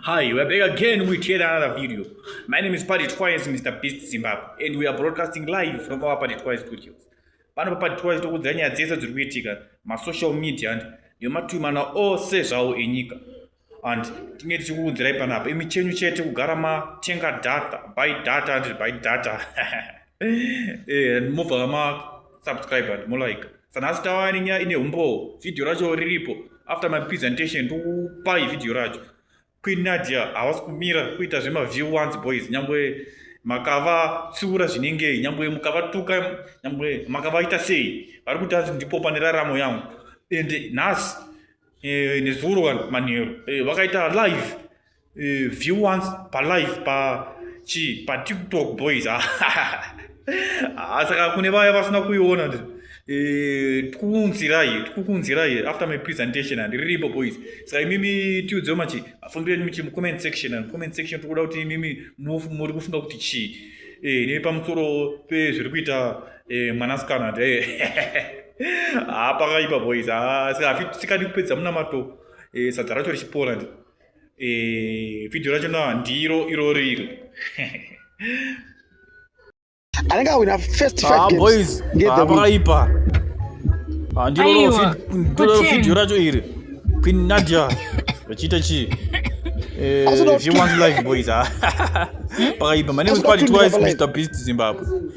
Hi, we're back again with yet another video. My name is Paddy Twice, Mr. Beast Zimbabwe, and we are broadcasting live from our Paddy Twice studios. Pano pa Paddy Twice tokudzira nyaya dzese dziri kuitika masocial media and nematwimana ose zvawo enyika. and tinge tichikuunzirai panapa imi chenyu chete kugara matenga data by data and by data eh, and mobva masubscribe and molike sanhasi tava nenyaya ine umbowo vhidhiyo racho riripo after my presentation ndokupai vhidhiyo racho queen nadia havasi kumira kuita zvemaview once boys nyangwe makavatsiura zvinengei nyangwe mukavatuka nyangwe makavaita sei vari kuti asi ndipo pane raramo yangu ende nhasi eh, nezuro vanhu manheru eh, vakaita live eh, view once palive pa chii patiktok boys saka ah, kune vaya vasina kuiona eh, tikukunzirai tikukunzirai after my presentation and riripo boys saka imimi tiudzeo machi afungiro enyu muchi mucomment section and comment section tikuda kuti imimi muri kufunga kuti chii eh, nepamusoro pezviri kuita Eh, mwanasikana ti haa pakaipa boys hafi tikadi kupedza munamato eh, sadza racho richipora ndi eh, vhidhiyo racho na ndiro iro riri anenge awina first five ah, games ah, pakaipa ah, ndiro vhidhiyo racho iri queen nadia vachiita chii Eh, if you want life boys ah. pakaipa my name is quality wise mr beast zimbabwe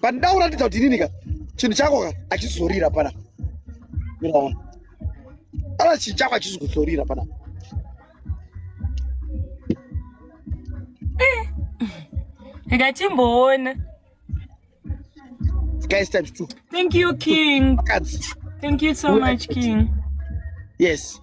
pandida kuratidza kuti inini ka chinhu chako ka achizorira pana miraona ana chinhu chako achizi kuzorira pana eh. ndikatimboona guys times two thank you king thank you so much king yes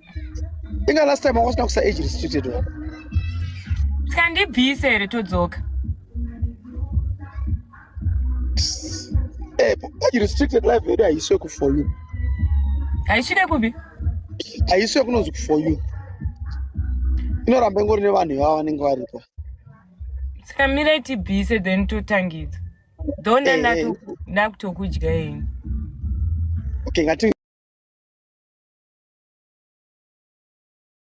inga last time wanga usina kusa age restricted wa tikandibvise here todzoka eh, age restricted life yedu haiswe kufor you haisvike kupi haiswe kunonzi kufor you inoramba ingori nevanhu ivava vanenge varipo saka mirai tibvise then totangidza Dona Eh, eh. ndatoku- ndakutokudya ini. Okay, ngati